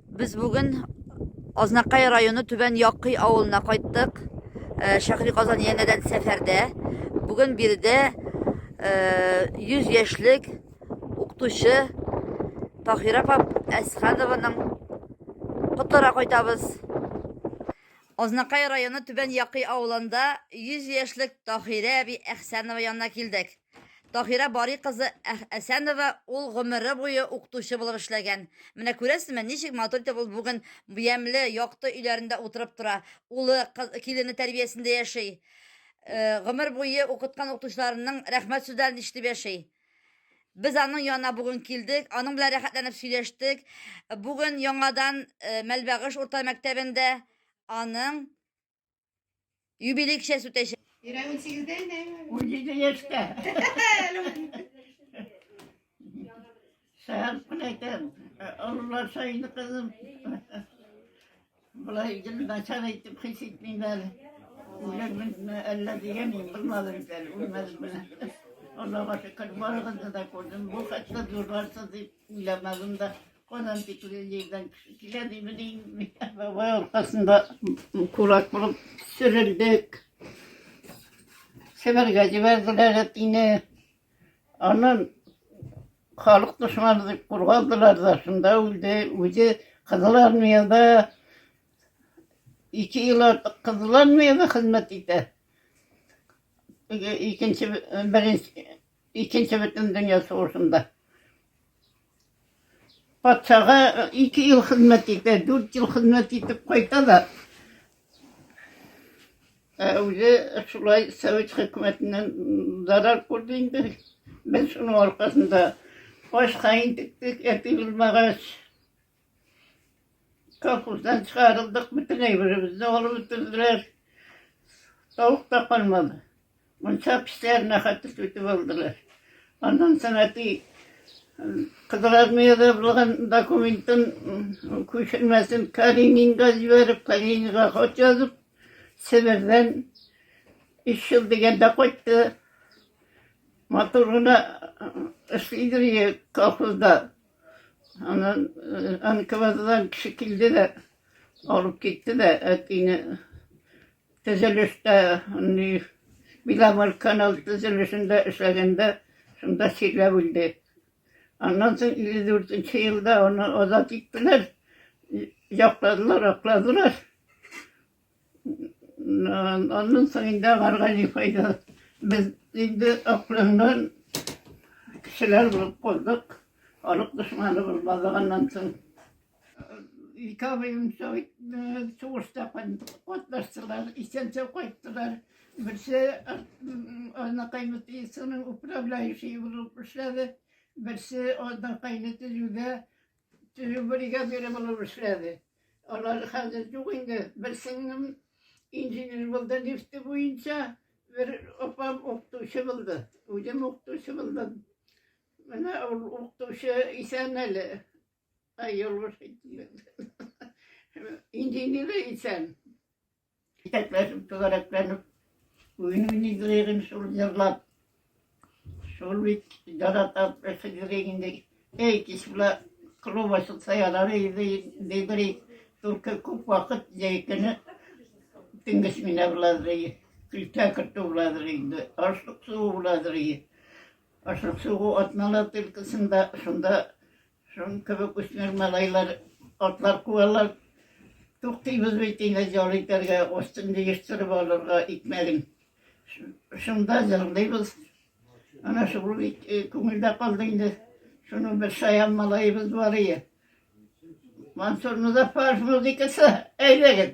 Без бүген Азнакай районы Түбән Якый авылына кайттык. Э, Шәхри Казан янәдән сәфәрдә. Бүген биредә 100 э, яшьлек укытучы Тахира апа Әсханованың котлара кайтабыз. Азнакай районы Түбән Якый авылында 100 яшьлек Тахирә әби Әхсәнова янына килдек. Таһира Бари кызы Әсәнова ул гомере буе укытучы булып эшләгән. Менә күрәсезме, ничек матур итеп ул бүген ямьле, якты өйләрендә утырып тора, улы, килене тәрбиясендә яши. Гомер буе укыткан укытучыларының рәхмәт сүзләрен ишетеп яши. Без аның янына бүген килдек, аның белән рәхәтләнеп сөйләштек. Бүген яңадан э, Мәлбәгыш урта мәктәбендә аның Юбилей кичәсе үтәчәк. Ирә 18-дә инде. 17 яшьтә. Сәгән кунайтын. Олылар сайын кызым. Болай гел начар итеп хис итмим әле. Үлемне әллә дигән мин булмады бит әле, үлмәдем менә. Аллага шөкер, барыгызны да күрдем. Бу хәтле зурларсыз дип уйламадым да. Анам бит үле җирдән килә димени. Бабай аркасында курак булып сөрелдек. Себергә җибәрделәр әтине. Аннан халык дошманы дип кургадылар да, шунда үлде. Үзе Кызыл армияда ике ел артык Кызыл армияда хезмәт итә. Икенче беренче Икенче бөтендөнья сугышында патшага ике ел хезмәт итә, дүрт ел хезмәт итеп кайта да, ә үзе шулай совет хөкүмәтеннән зарар күрде инде. Без шуның аркасында ашка интектек, әти булмагач. Колхоздан чыгарылдык, бөтен әйберебезне алып бетерделәр. Тавык та калмады. Мунча печләренә хәтле сүтеп алдылар. Аннан сәнәти Кызыл армияда булган документын күчермәсен Калининга җибәреп, Калининга хат язып, Себердән өч ел дигәндә кайтты. Матур гына эшлидер колхозда. Анан э, НКВДдан кеше килде дә, алып китте дә, әтине төзелештә, Биламал канал төзелешендә эшләгәндә, шунда чирләп үлде. Аннан соң 54 елда аны азат иттеләр, якладлар, акладылар. Аннан соң инде аларга ни файда. Без инде акланган кешеләр булып калдык. Халык дошманы булмаганнан соң. Ике абыем сугышта катнаштылар, исән-сау кайттылар. Берсе анакайны тиесенең управляющие булып эшләде. Берсе анакайны төзүгә Төзү бригадиры булып эшләде. Алар хәзер юк инде. Бер сеңлем инженер булды нефте буенча, бер апам укытучы булды. Үзем укытучы булдым. Менә ул укытучы исән әле. Ай, ялгыш әйттем. Инженеры исән. Итәкләшеп, түгәрәкләнеп, уен уйныйдык егем шул җырлап. Шул бит яратам, хәзерге инде. Эй, кич була, клуб ачылса ярар иде, дидер ик. Только күп вакыт җәйкене төнге смена буладыр иде. Көлтә кертү буладыр инде, ашлык сугу буладыр иде. Ашлык сугу атналар тилкесендә, шунда Шуның кебек үсмер малайлар атлар куалар. Туктыйбыз бит инде җал итәргә, астын җыештырып алырга икмәген. Шунда җырлыйбыз. Ана шул бит э, күңелдә калды инде. Шуның бер шаян малаебыз бар ие. Мансур Музафаров музыкасы, әйдәгез!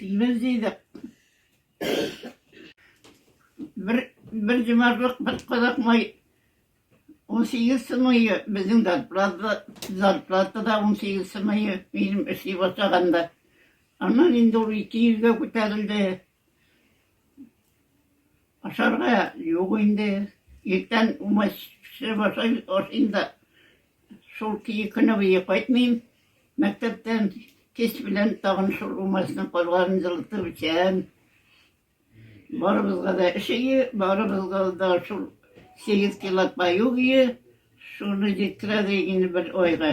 Без дидек. Бер, бер җимарлык бер кадак май 18 сымыйы безнең зарплата, зарплата да 18 сымыйы минем эшли башлаганда. Аннан инде ул ике йөзгә күтәрелде. Ашарга юк инде. Иртән умач пешереп ашыйм да, шул көне буе кайтмыйм. Мәктәптән кич белән тагын шул умачның калганын җылытып эчәм. Барыбызга да эш өе, барыбызга да шул 8 кило паю өе, шуны җиткерәдер инде бер айга.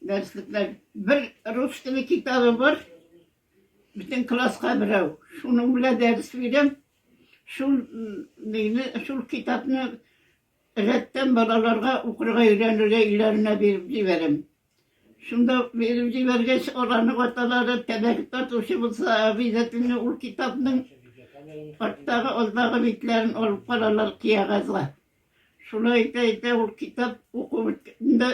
Дәреслекләр бер рус теле китабы бар, Бөтен класска берәү. Шуның белән дәрес бирәм. Шул мине, шул китапны рәттән балаларга укырга өйрәнергә өйләренә биреп җибәрәм. Шунда биреп җибәргәч, аларның аталары тәбәк тартучы булса, обязательно ул китапның арттагы, алдагы битләрен алып каралар киягазга. Шулай итә-итә ул китап укуында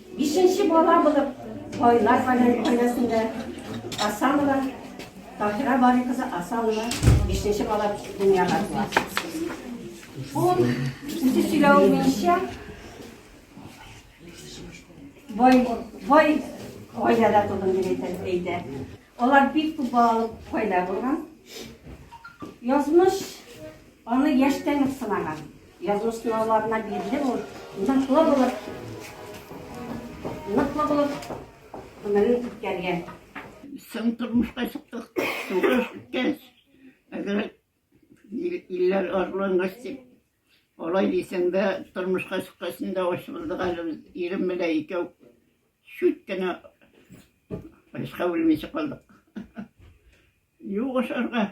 Бишенче бала булып, байлар гаиләсендә Асанова Таһира Бари кызы Асанова бишенче бала дөньяга туа. Ул үзе сөйләве буенча бай бай гаиләдә тудым дип әйтә. Алар бик күп балалы гаилә булган. Язмыш аны яшьтән үк сынаган. Язу сынауларына бирелеп ул, ныклы булып, ныклы булып гомерен үткәргән. Соң тормышка чыктык, сугыш үткәч, әгәр илләр арлангач дип, алай дисәң дә, тормышка чыккач инде ачылдык әле без ирем белән икәү. Чүт кенә ашка үлмичә калдык. Юк ашарга.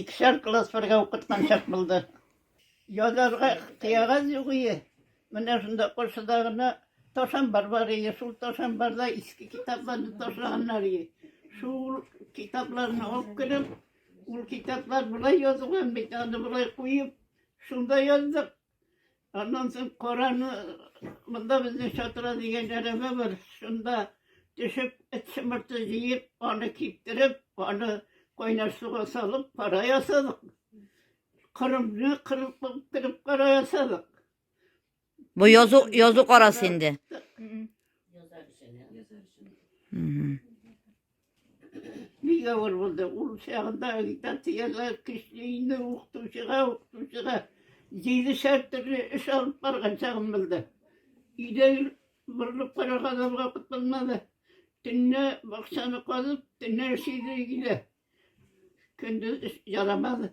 Икешәр класс бергә укыткан чак булды. Язарга кыягаз юк ие. Менә шунда каршыда гына ташам бар бар ие. Шул ташам барда иске китапларны ташлаганнар ие. Шул китапларны алып кереп, ул китаплар болай язылган бит, аны болай куеп, шунда яздык. Аннан соң караны монда безнең чатыра дигән әрәбә бар. Шунда төшеп, эт шымырты җыеп, аны киптереп, аны кайнар суга салып, кара ясадык. Кырымны кырып кырып кара ясадык. Бу язу язу карасы инде. Язар өчен. Бик авыр булды. Ул чагында агитацияләр көчле инде укытучыга, укытучыга җиде шәр төрле эш алып барган чагым булды. Өйдә борылып караган алга кутылмады. Төнне бакчаны казып, төнне эшлиде өйдә. Көндез ярамады.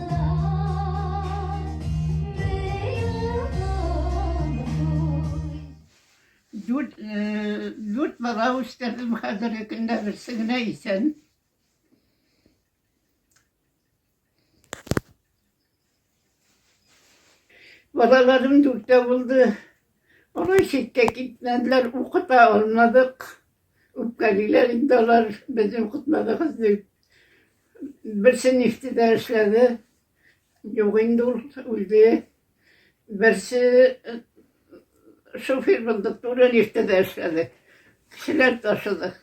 Дүрт бала үстердем, хәзерге көндә берсе генә исән. Балаларым дүртә булды. Алар читкә китмәделәр, укыта алмадык, үпкәлиләр инде алар, без укытмадыгыз дип. Берсе нефтедә эшләде, юк инде ул, үлде. Берсе шофер булды, туры нефтедә эшләде. Кешеләр ташыды.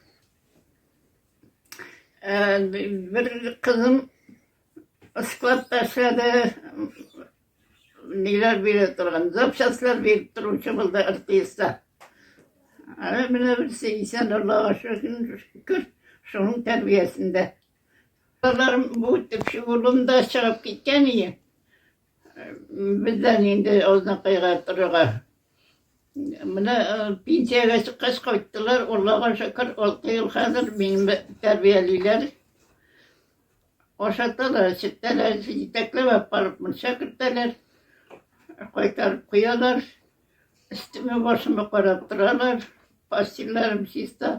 Бер кызым складта эшләде, ниләр бирә торган, запчастлар биреп торучы булды РТСта. Әле менә берсе исән Аллага шөкер, шуның тәрбиясендә. Балаларым бу төпчек улым да чыгып киткән ие. Бездән инде Азнакайга торырга. Менә э, пенсиягә чыккач кайттылар, Аллага шөкер, алты ел хәзер мине тәрбиялиләр. Ашаталар, эчертәләр, җитәкләп алып барып мунча кертәләр, кайтарып куялар. Өстемә башыма карап торалар, постельләрем чиста.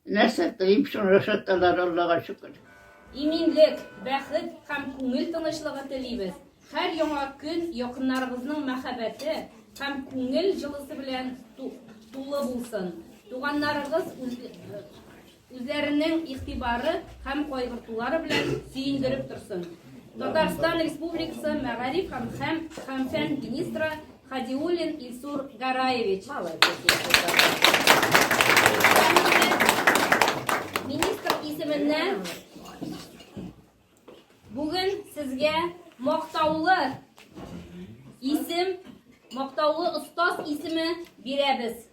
Нәрсә телим, шуны ашаталар, Аллага шөкер. Иминлек, бәхет һәм күңел тынычлыгы телибез. Һәр яңа көн якыннарыгызның мәхәббәте һәм күңел җылысы белән тулы булсын. Туганнарыгыз Үзләренең игътибары һәм кайгыртулары белән сөендереп торсын. Татарстан Республикасы мәгариф һәм һәм һәм фән министры Хадиуллин Илсур Гараевич. Министр исеменнән бүген сезгә мактаулы исем, мактаулы остаз исеме бирәбез.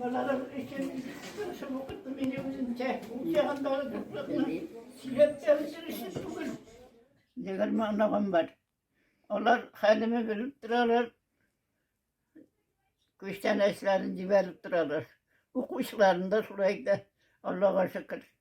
Балалар өчен тырышып укыттым мин үземчә. Ягындагы туфракны сөйләп тәмсер өчен түгел. Дегәр маңнагым бар. Алар хәлемә белеп торалар. Күчтән әшләрен җибәреп торалар. Укучыларында шулай да Аллага шөкер.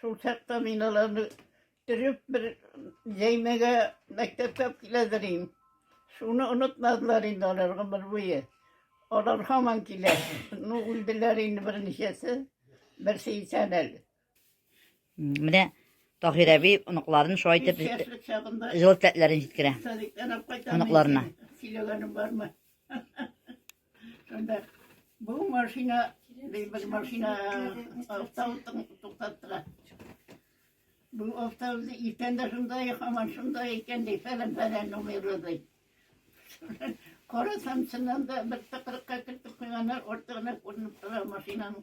Шул чакта мин аларны төреп бер җәймәгә мәктәпкә киләдер инде. Шуны онытмадылар инде алар гомер буе. Алар һаман килә. Ну, үлделәр инде берничәсе. Берсе исән әле. Менә Таһир әби оныкларын шулай итеп Яшьлек чагында җылы теләкләрен җиткерә. садиктан алып кайтам. Оныкларына. Сөйләгәнем бармы? Анда бу машина, бер машина автобустан туктаттыра. Бу автобус иртән дә шундай, һаман шундай икән ди, фәлән фәлән номерлы ди. Карасам, чыннан да бер тыкрыкка кертеп куйганнар, артыгына күренеп тора машинаның.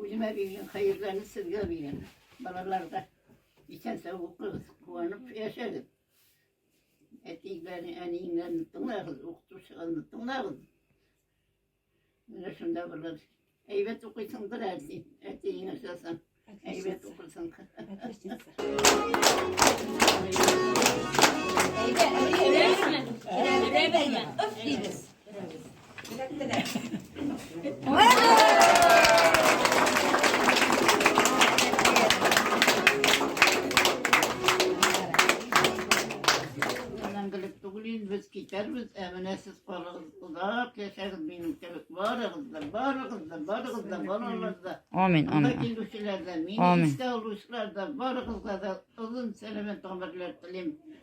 Үземә биргән хәерләрне сезгә бирәм. Балалар да исән-сау укыгыз, куанып яшәгез. Әтиләрне, әниеңнәрне тыңлагыз, укытучыларны тыңлагыз. Менә шунда булыр. Әйбәт укыйсыңдыр әти, әтиеңә язам. Әйбәт укырсың. Әйдә, әйдә, әйдә. Әйдә, әйдә. Әйдә, әйдә. китәрбез, ә менә сез калыгыз, озак яшәгез минем кебек. Барыгыз да, барыгыз да, барыгыз да, балалар да. Амин, амин. Килүчеләр дә, мине искә алучылар да, барыгызга да озын сәламәт гомерләр телим.